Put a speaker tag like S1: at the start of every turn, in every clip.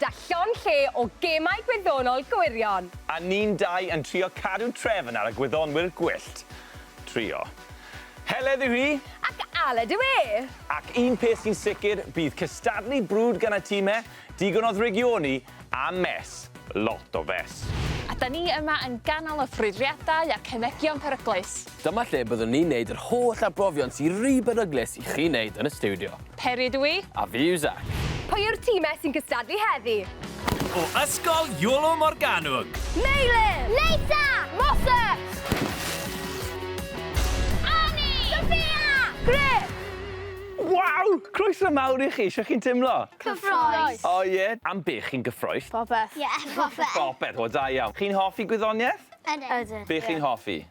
S1: Da llond lle o gemau gwyddonol gwirion! A ni'n dau
S2: yn trio cadw trefn ar y gwyddonwyr gwyllt. Trio. Heledd yw hi! Ac Aled yw
S1: e! Ac un peth
S2: sy'n sicr, bydd cystadlu brwd gan y time, digon o ddrygioni, a mess. Lot o fess. A 'da ni yma
S3: yn ganol y ffrwydriadau a cemegion peryglus. Dyma lle byddwn ni'n
S4: neud yr holl arbrofion sy ry beryglus i chi neud yn y stiwdio. Peri ydw i. A
S3: fi yw Zac.
S4: Pwy yw'r time
S1: sy'n cystadlu heddi? O
S5: Ysgol Iolo Morganwg. Meilir!
S1: Leisa! Moses! Anni! Sophia! Griff! Waw!
S2: Croeso mawr i chi, shwt chi'n timlo? Cyffroes! O
S1: ie? Am
S2: be chi'n gyffroes? Popeth. Ie,
S1: popeth.
S6: Popeth, o da iawn.
S2: Chi'n hoffi gwyddonieth? Ydyn. Ydyn. Be chi'n
S6: hoffi?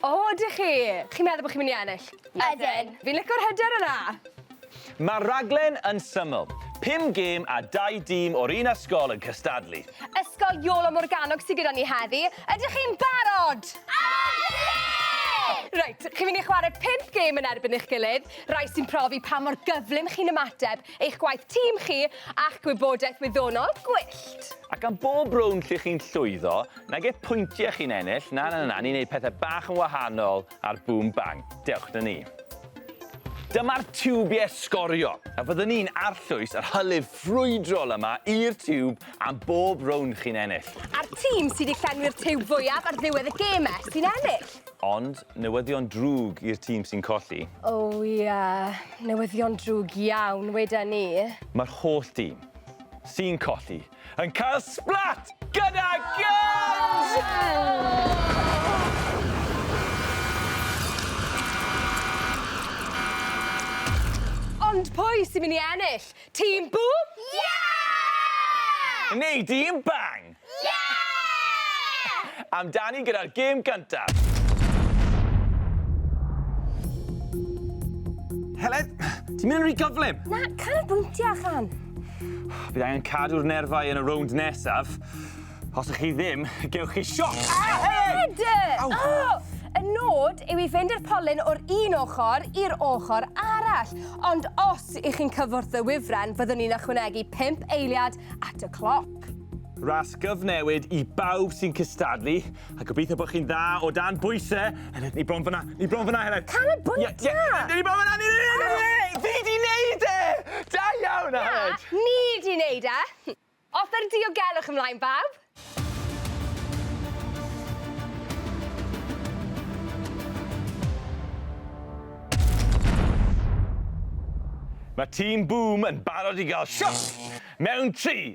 S6: O, ydych
S1: chi? Chi'n meddwl bod chi'n mynd i ennill? Ydyn. Fi'n lico'r
S6: hyder
S1: yna! Mae'r
S2: rhaglen yn syml. Pum gêm a dau dîm o'r un ysgol yn cystadlu. Ysgol Iolo
S1: Morganwg sydd gyda ni heddi. Ydych chi'n barod? Ydyn! Reit, chi'n mynd i chwarae pump gêm yn erbyn eich gilydd, rhai sy'n profi pa mor gyflym chi'n ymateb, eich gwaith tîm chi, a'ch gwybodaeth wyddonol gwyllt. Ac am bob
S2: rownd lle chi'n llwyddo, Nag eich pwyntiau chi'n ennill, na na na, ni'n neud pethau bach yn wahanol ar Boom Bang. Dewch 'da ni. Dyma'r tiwbiau sgorio, a fyddwn ni'n arllwys yr hylif ffrwydrol yma i'r tiwb am bob rownd chi'n ennill. A'r tîm sydd
S1: wedi llenwi'r tiwb fwyaf ar ddiwedd y geme sy'n ennill. Ond newyddion
S2: drwg i'r tîm sy'n colli. O ia,
S1: newyddion drwg iawn weda ni. Mae'r holl
S2: dîm sy'n colli. yn cael sblat gyda gynt!
S1: Ond pwy sy'n mynd i ennill? Tîm Bŵm? Ie!
S6: Neu Dîm
S2: Bang? Ie!
S6: Amdani gyda'r gêm
S2: gyntaf. Helen, ti'n mynd yn rhy gyflym. Na, canolbwyntio,
S1: Chan. Bydd angen
S2: cadw'r nerfau yn y rownd nesaf. Os ych chi ddim, gewch chi sioc! Ed!
S1: Oh, y nod yw i fynd i'r polyn o'r un ochr i'r ochr arall. Ond os ych chi'n cyfwrdd y wifren, fyddwn ni'n ychwanegu 5 eiliad at y cloc. Ras
S2: gyfnewid i bawb sy'n cystadlu. A gobeithio bod chi'n dda o dan bwyse. Heledd, ni bron fyna. Ni bron fyna, Heledd. Can y bwyta! Ie, ie, ni bron
S1: fyna, ni bron fyna!
S2: Fi di neud e! Da iawn, Aled! Na, ni di neud
S1: e! Off yr diogelwch ymlaen, bawb!
S2: Mae tîm Boom yn barod i gael siop mewn tri,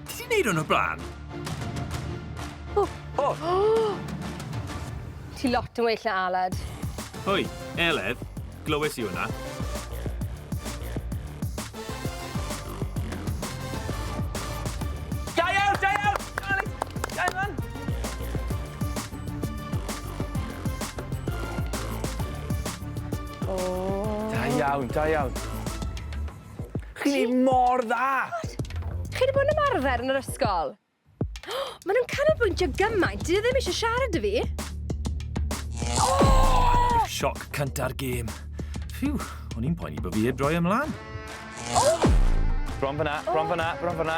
S5: Ti di neud hwn o'r blaen? O!
S1: O! Ti lot yn well na Aled. Hoi,
S5: Eled, glywes i hwnna.
S2: Da
S1: iawn, da
S2: iawn. Chi'n neud mor dda! Chi 'di
S1: bod yn ymarfer yn yr ysgol? Ma' nhw'n canolbwyntio gymaint, 'dyn nhw ddim eisiau siarad 'da fi. Oh!
S5: Sioc cynta'r gêm. Phew, o'n i'n poeni bod fi heb droi ymlaen. Bron fyna,
S2: bron fyna, bron fyna.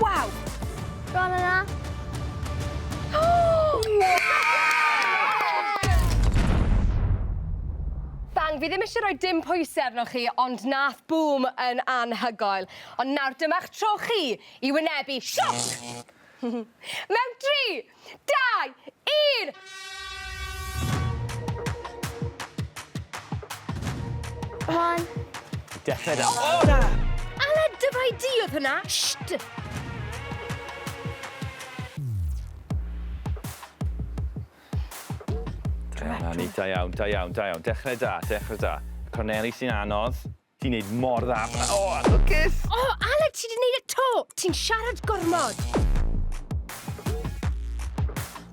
S1: Waw! Go
S6: on yna.
S1: Bang, fi ddim eisiau rhoi dim pwysau arnoch chi, ond nath bŵm yn anhygoel. Ond nawr dyma'ch tro chi i wynebu sioc! Mewn 3, Dau! Un!
S6: One. Dechrau
S2: da. O, na! Ala dyfai
S1: di oedd hwnna! Sht!
S2: Da, da iawn, da iawn, da iawn. Dechrau da, dechrau da. Corneli sy'n anodd. Ti'n neud mor dda. O, lwcus! O, Aled, ti
S1: di neud y to! Ti'n siarad gormod!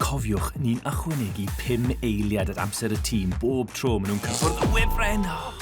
S5: Cofiwch, ni'n ychwanegu pum eiliad at amser y tîm bob tro maen nhw'n cyffwrdd y wefren! O!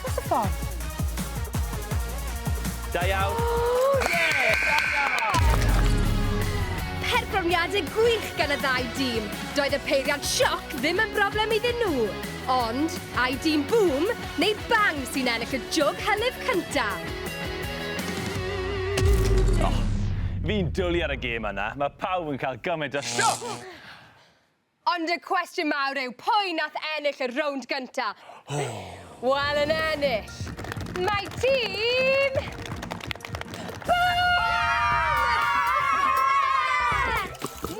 S2: Dros y ffordd. Da iawn.
S1: Perfformiadau gwych gan y ddau dîm. Doedd y peiriant sioc ddim yn broblem iddyn nhw. Ond, ai dîm Boom neu Bang sy'n ennill y jwg hylif cynta?
S2: Oh, fi'n dwlu ar y gêm yna. Mae pawb yn cael gymaint o sioc!
S1: Ond y cwestiwn mawr yw, pwy nath ennill y rownd gynta? Wel, yn ennill, mae tîm... Mwy!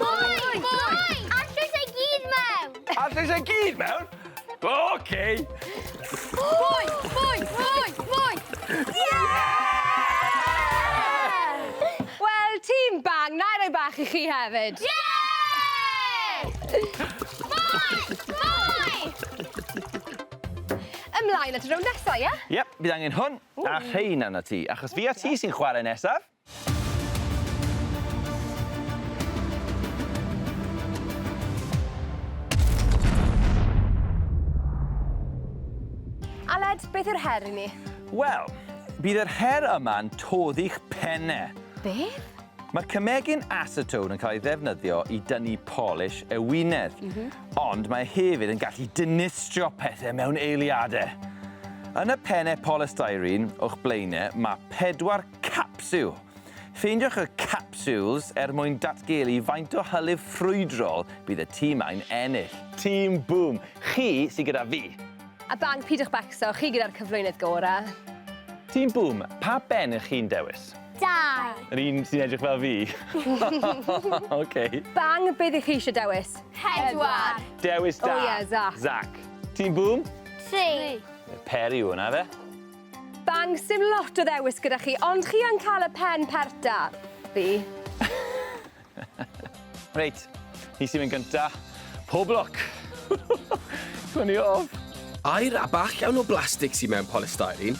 S6: Mwy! Mwy! Allwch chi gyd mewn? Allwch chi gyd
S2: mewn? Oce!
S1: Mwy! Mwy! Mwy! Mwy! Wel, tîm bang, na i roi bach i chi hefyd. Mwy!
S6: Mwy!
S1: Ymlaen at y rownd nesa, ie? Yep, bydd angen hwn
S2: a rhein arna ti, achos fi a ti sy'n chwarae nesaf.
S1: Aled, beth yw'r her i ni? Wel,
S2: bydd yr her yma'n todd i'ch penne. Beth?
S1: Mae'r cymegyn
S2: acetone yn cael ei ddefnyddio i dynnu polish ewinedd, mm -hmm. ond mae hefyd yn gallu dinistrio pethau mewn eiliadau. Yn y pennau polystyrene o'ch blaenau, mae pedwar Capsiwl. Ffeindiwch y capsiwls er mwyn datgelu faint o hylif ffrwydrol bydd y tîm ai'n ennill. Tîm Bŵm, chi sy gyda fi! A Bang, peidiwch
S1: becso, chi gyda'r cyflwynydd gorau! Tîm Bŵm,
S2: pa ben ych chi'n dewis? Dau!
S6: Yr un sy'n
S2: edrych fel fi? OK. Bang, beth
S1: ych chi eisiau dewis? Pedwar!
S6: Dewis da! O ie,
S2: Zac.
S1: Zac. Tîm
S2: Bŵm? Tri!
S6: Peri yw hwnna,
S2: ife? Bang,
S1: sdim lot o ddewis gyda chi, ond chi yn cael y pen pert da. Fi. Reit, hi
S2: sy'n mynd gynta. Pob lwc! Swn i off! Aer a bach
S4: iawn o blastig sydd mewn polystyrene,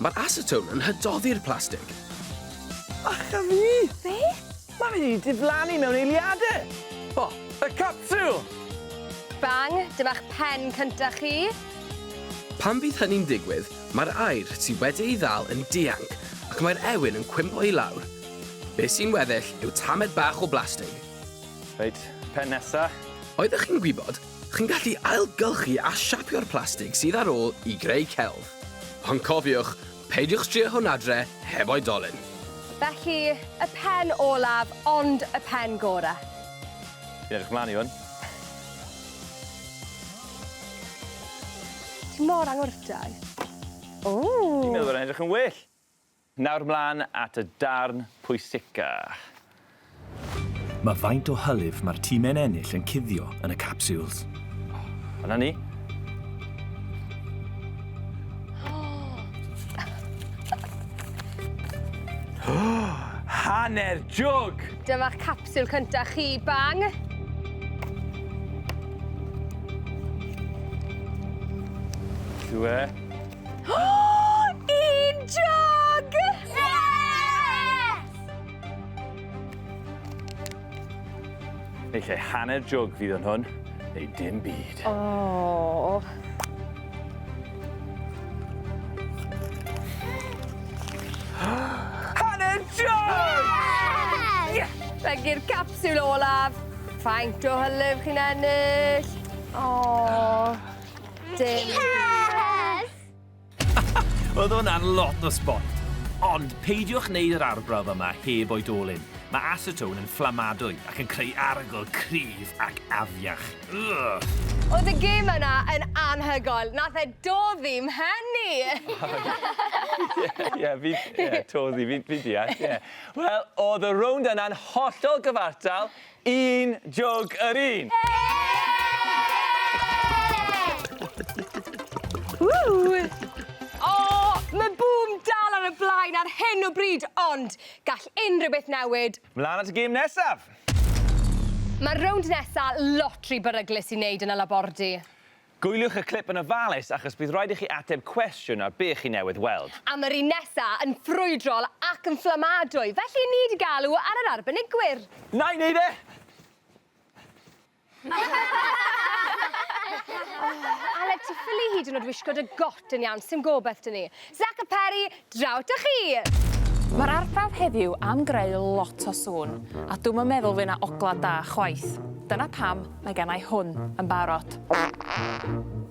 S4: mae'r acetone yn hydoddi'r plastig.
S2: Ach a fi! Beth? Mae fe 'di diflannu mewn eiliade! O, y capsiwl! Bang,
S1: dyma'ch pen cynta chi. Pan
S4: fydd hynny'n digwydd, mae'r aer sy wedi ei ddal yn dianc ac mae'r ewyn yn cwympo i lawr. Be' sy'n weddill yw tamed bach o blastig. Reit,
S2: pen nesa. Oeddech chi'n gwybod,
S4: chi'n gallu ailgylchu a siapio'r plastig sydd ar ôl i greu celf. Ond cofiwch, Peidiwch drio hwn adre heb oedolyn. Felly,
S1: y pen olaf, ond y pen gore. Fi'n
S2: edrych mlan i hwn.
S1: Ti mor angwrtais. Ww!
S2: Fi'n meddwl bod e'n edrych yn well! Nawr mlan at y darn pwysica.
S5: Mae faint o hylif mae'r time'n ennill yn cuddio yn y capsules. Oh, yna
S2: ni. Hanner jwg! Dyma capsiwl
S1: cynta chi, bang!
S2: Dwi
S1: e. Oh!
S2: Neu lle hanner jwg fydd yn hwn, neu dim byd.
S1: Oh.
S2: hanner jwg! Yes!
S1: Rhagi'r capsiwl olaf. Faint o hylif chi'n ennill? Oh. Dim. Yes!
S5: Oedd hwnna'n lot o sbot. Ond peidiwch wneud yr arbrawf yma heb oedolyn. Mae acetone yn fflamadwy ac yn creu arogl cryf ac afiach. Ugh! Oedd y gêm
S1: yna yn anhygoel. Nath e doddi mhen i! Ie, ie,
S2: fi... Ie, toddi, fi, fi deall, ie. Wel, oedd y rownd yna'n hollol gyfartal, Un jwg yr un!
S1: Ww! O! Mae bŵm dal ar y blaen ar hyn o bryd, ond gall unrhyw beth newid. Mlan at y gêm nesaf! Mae'r rownd nesa lot ry beryglus i wneud yn y labordy. Gwyliwch y
S2: clip yn ofalus achos bydd rhaid i chi ateb cwestiwn ar be chi newydd weld. Am yr un nesa,
S1: yn ffrwydrol ac yn fflamadwy, felly ni 'di galw ar yr arbenigwyr. Na'i neud e! Aled, ti ffili hyd yn o'd wisgo dy got yn iawn, sdim gobeth 'da ni. Zac a Peri! Draw 'da chi! Mae'r
S3: arbrawf heddiw am greu lot o sŵn, a dw'm yn meddwl fy' 'na ogla' da chwaith. Dyna pam mae gennai hwn yn barod.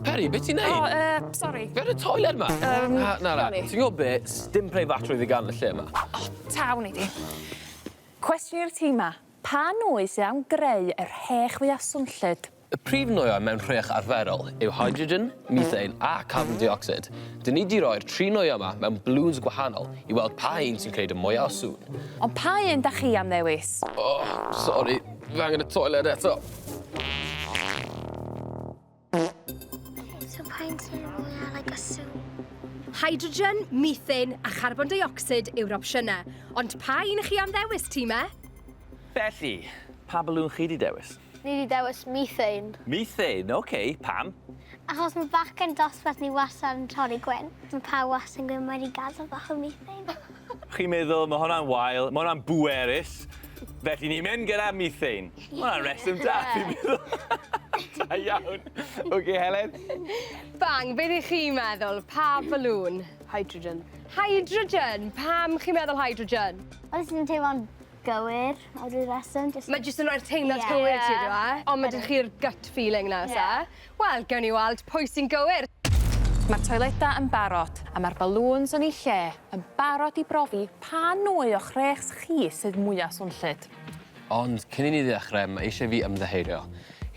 S4: Peri, be' ti'n neud? O, yy, sori. Be' ar y toiler
S3: 'ma? Yym,
S4: Na, na, na. Ti'n gwbo be',
S3: sdim
S4: preifatrwydd i ga'l yn y lle 'ma. O, ta, wn i di.
S3: Cwestiwn i'r tîm 'ma, pa nwy sy am greu yr hech fwya swnllyd? Y prif nwyau
S4: mewn rhech arferol yw hydrogen, methane a carbon deuocsid. Dyn ni 'di roi'r tri nwyau yma mewn balŵns gwahanol i weld pa un sy'n gwneud y mwyaf o sŵn. Ond pa un 'da
S3: chi am ddewis? O, sori,
S4: fi angen y toiled eto. Ok,
S6: so pa un sydd y mwyaf like a sŵn? Hydrogen,
S1: methane a charbon deuocsid yw'r opsiynau, ond pa un 'ych chi am ddewis, time? Felly,
S2: pa balŵn chi 'di dewis? Ni 'di dewis
S6: methane. Methane, ok,
S2: pam? Achos ma
S6: bachgen dosbarth ni wastad yn torri gwin. Ma pawb wastad yn gwyn mae 'di gadel bach o methane. Chi'n meddwl
S2: ma hwnna'n wael, ma hwnna'n bwerus, felly ni'n mynd gyda methane. Ma hwnna'n reswm da fi'n meddwl. Da iawn. Ok Helen? Bang, be
S1: dych chi'n meddwl, pa balŵn? Hydrogen.
S7: Hydrogen,
S1: pam chi'n meddwl hydrogen? Achos fi'n teimlo'n
S6: gywir am ryw reswm jyst... Mae jyst yn roi'r teimlad
S1: cywir i ti on'd yw e? Ond ma' 'da chi'r gut feeling 'na o's e? Wel gewn ni weld pwy sy'n gywir. Ma'r
S3: toileda yn barod a ma'r balŵns yn eu lle yn barod i brofi pa nwy o'ch rhêchs chi sydd mwya swnllyd. Ond cyn
S4: i ni ddechre ma' eisie fi ymddiheurio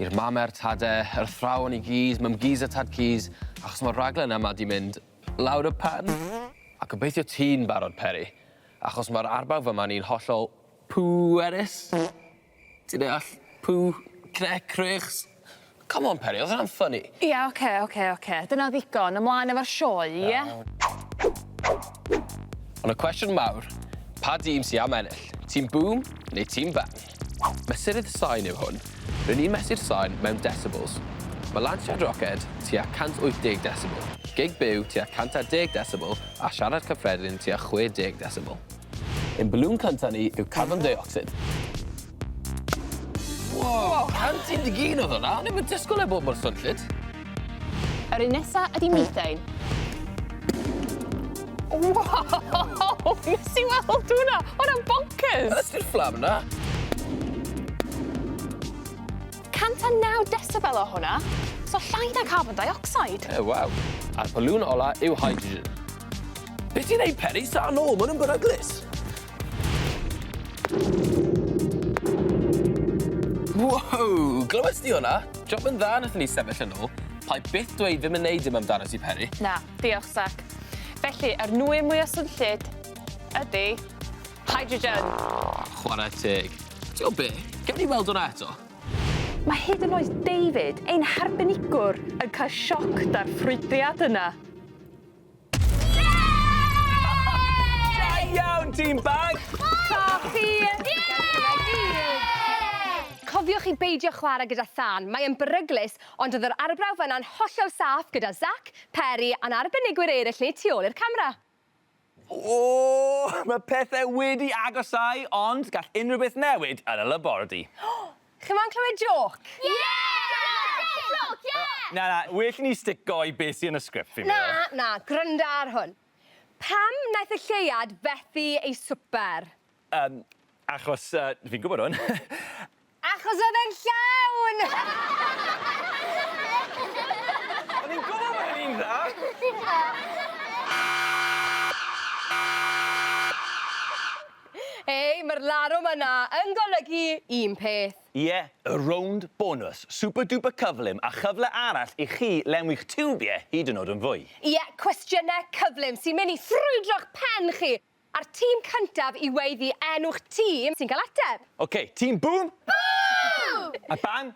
S4: i'r mame a'r tade, yr athrawon i gyd, Mum Geez a Tad Keys, achos ma'r raglen yma 'di mynd lawr y pen. A gobeithio ti'n barod Peri. Achos mae'r arbrawf yma ni'n hollol pwerus. Ti'n deall? Pw, cne, cruchs. Come on Peri, oedd hwnna'n ffyni? Ia, oce, oce,
S3: oce. Dyna ddigon. Ymlaen efo'r sioe, ia? Iawn.
S4: Ond y cwestiwn mawr, pa dîm sy am ennill? Tîm Boom neu Tîm Ban? Mesurydd sain yw hwn. Rŷn ni'n mesur sain mewn desibels. Mae lansiad roced tua 180 desibel, gig byw tua 110 desibel a siarad cyffredin tua 60 desibel. Ein balŵn cyntaf ni yw carbon deuocsid. Wow! 111 oedd hwnna! O'n i'm yn disgwyl e bod mor swnllyd!
S3: Yr un nesa ydi methane. Wow! Nes i weld hwnna! Hwnna'n bonkers! Ydy'r fflam na? 109 decibel o hwnna, so llai na carbon dioxide. E, waw. A'r
S4: polwn ola yw hydrogen. Beth ti'n ei peri sa nôl? Mae'n yn beryglus. Wow! Glywes di hwnna? Job yn dda nathon ni sefyll yn ôl. Pai byth dweud ddim yn neud dim amdano ti, Peri. Na, diolch, Zac.
S3: Felly, yr nwy mwya swnllyd ydy hydrogen. Chwarae
S4: teg. Ti o be? Gewn ni weld hwnna eto? Mae hyd
S3: yn oed David, ein harbenigwr, yn cael sioc da'r ffrwydriad yna.
S2: Team bag! Coch
S1: chi! Cofiwch i beidio chwarae gyda thân, mae e'n beryglus, ond oedd yr arbrawf yna'n hollol saff gyda Zac, Peri a'n arbenigwyr eraill ni tu ôl i'r camera. O!
S2: Mae pethau wedi agosáu, ond gall unrhyw beth newid yn y labordy. Chi moyn
S1: clywed jôc? Ie!
S2: Na, na, well i ni stico i beth sy yn y sgript fi'n meddwl. Na, na, gwranda ar
S1: hwn. Pam wnaeth y lleuad fethu ei swper? Yym,
S2: achos yy, fi'n gwybod hwn. Achos
S1: oedd e'n llawn!
S2: O'n i'n gwybod bod e'n un dda!
S1: Hei, mae'r larwm yna yn golygu un peth. Ie, y rownd
S2: bonws, super duper cyflym a chyfle arall i chi lenwi'ch tiwbiau hyd yn oed yn fwy. Ie, cwestiynau
S1: cyflym sy'n mynd i ffrwydro'ch pen chi, a'r tîm cyntaf i weiddi enw'ch tîm sy'n cael ateb. Ok, tîm Bŵm!
S2: Bŵm!
S6: A Bang!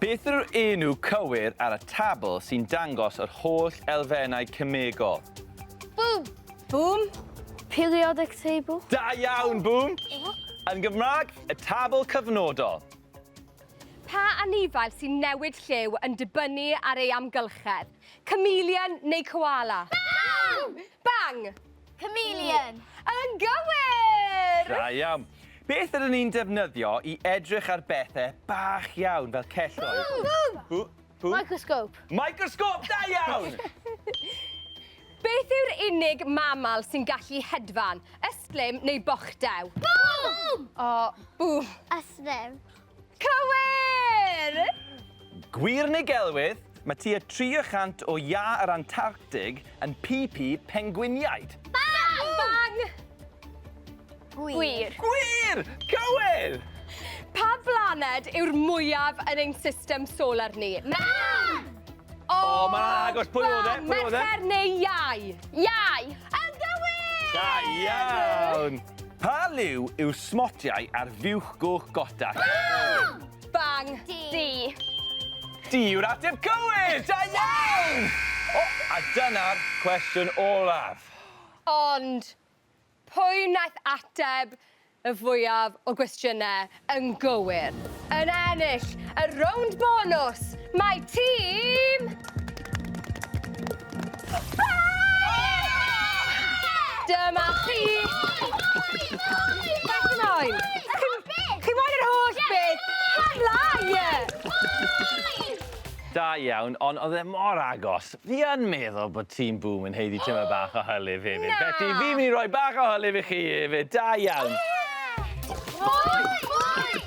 S2: Beth yw'r enw cywir ar y tabl sy'n dangos yr holl elfennau cemegol? Bŵm!
S6: Bŵm?
S1: Periodic
S6: table? Da iawn, Bŵm!
S2: Yn Gymraeg, y tabl cyfnodol.
S1: Pa anifail sy'n newid lliw yn dibynnu ar ei amgylchedd? Chameleon neu koala? Bang!
S6: Bang!
S1: Chameleon!
S6: Yn
S1: gywir! Da iawn.
S2: Beth ydyn ni'n defnyddio i edrych ar bethau bach iawn fel celloedd? Gwg! Hw? Hw?
S6: Microscope. Microscope, da
S2: iawn!
S1: Beth yw'r unig mamal sy'n gallu hedfan, ystlum neu bochdew? Bŵm!
S6: O,
S1: bŵm. Ystlum. Cywir!
S2: Gwir neu gelwydd? Mae tua 300 o iâ yr Antarctig yn pipi pengwiniaid. Bang!
S6: Bang!
S1: Gwir.
S6: Gwir!
S2: Cywir! Pa
S1: blaned yw'r mwyaf yn ein system solar ni? Mân!
S6: O, oh,
S2: mae'n agos. Pwy oedd e? Pwy oedd e? Mercher neu iau?
S1: Iau.
S6: Yn gywir!
S1: Da
S2: iawn! Pa liw yw smotiau ar fiwch goch goda?
S6: Bang! Bang.
S1: Di.
S6: Di
S2: yw'r ateb cywir! Da iawn! O, a dyna'r cwestiwn olaf. Ond
S1: Pwy wnaeth ateb y fwyaf o gwestiynau yn gywir? Yn ennill y rownd bonws, mae tîm... Dyma chi! Beth chi moyn? Chi moyn yr holl beth? Hela!
S2: Da iawn, ond oedd e mor agos. Fi yn meddwl bod Team Boom yn haeddu tymed bach o hylif hefyd. Na! Felly, fi'n mynd i roi
S1: bach
S2: o hylif i chi hefyd. Da iawn.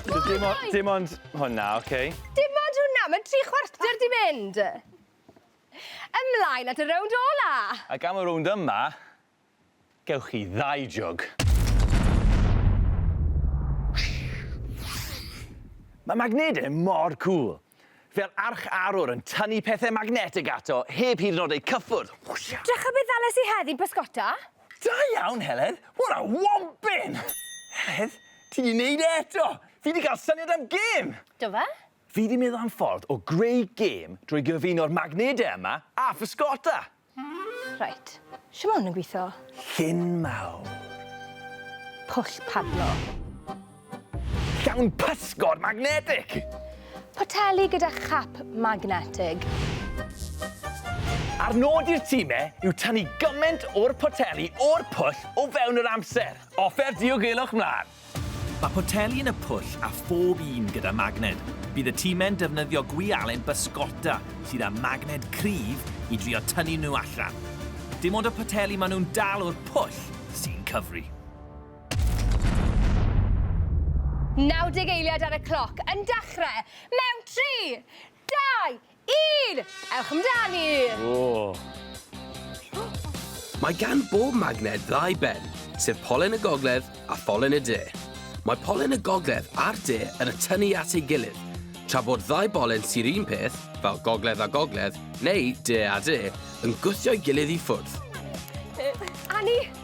S2: So dim o- dim ond hwnna, oce. Dim ond hwnna?
S1: Mae tri chwarter 'di mynd! Ymlaen at y rownd ola! Ac am y rownd
S2: yma, Gewch chi ddau jwg. Mae magnedau mor cŵl! Fel arch arwr yn tynnu pethau magnetig ato heb hyd yn oed eu cyffwrdd! Drycha be ddales
S1: i heddi, bysgota? Da iawn,
S2: Heledd! What a wompyn! Heledd, ti 'di neud e eto! Fi 'di cael syniad am gêm! Do fe?
S1: Fi 'di meddwl am
S2: ffordd o greu gêm drwy gyfuno'r magnedau yma a physgota! Reit,
S1: shwt ma' hwn yn gwitho? Llun mawr. Pwll padlo.
S2: Llawn pysgod magnetig! Poteli
S1: gyda chap magnetig.
S2: A'r nod i'r time yw tynnu gymaint o'r poteli o'r pwll o fewn yr amser. Offer diogelwch mlan! Mae poteli
S5: yn y pwll a phob un gyda magned. Bydd y time'n defnyddio gwialen bysgota sydd â magned cryf i drio tynnu nhw allan. Dim ond y poteli maen nhw'n dal o'r pwll sy'n cyfri.
S1: 90 eiliad ar y cloc yn dechrau mewn tri, dau, Un! Ewch amdani! Ww!
S4: Mae gan bob magnet ddau ben, sef polen y gogledd a pholen y de. Mae polen y gogledd a'r de yn y tynnu at ei gilydd, tra bod ddau bolen sy'r un peth, fel gogledd a gogledd, neu de a de, yn gwthio'i gilydd i ffwrdd.
S1: Annie!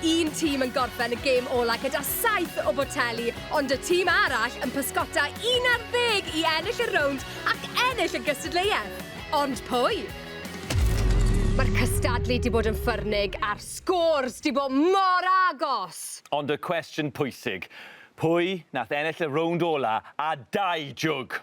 S1: Un tîm yn gorffen y gêm ola' gyda saith o boteli, ond y tîm arall yn pysgota un ar ddeg i ennill y rownd ac ennill y gystadleuaeth. Ond pwy? Mae'r cystadlu 'di bod yn ffyrnig a'r sgôrs 'di bod mor agos! Ond y cwestiwn
S2: pwysig, pwy nath ennill y rownd ola' a dau jwg?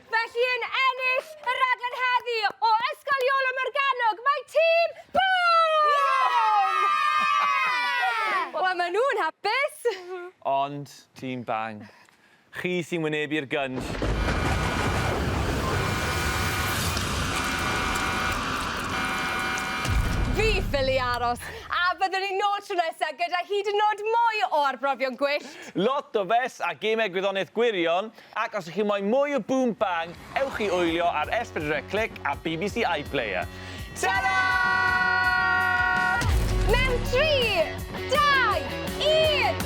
S1: Felly yn ennill y raglen heddi o Ysgol Iolo Morgannwg mae tîm Bŵm! Wel maen nhw'n hapus! Ond
S2: tîm Bang, chi sy'n wynebu'r gynnll.
S1: Fi ffili aros, a byddwn ni nôl tro nesa gyda hyd yn nod mwy o arbrofion gwyllt! Lot o fes
S2: a gemau gwyddoniaeth gwirion Ac os chi moyn mwy o Boom Bang, ewch i wylio ar S pedwar C Click a bbc iPlayer. Tara!
S1: Mewn tri, dau, un!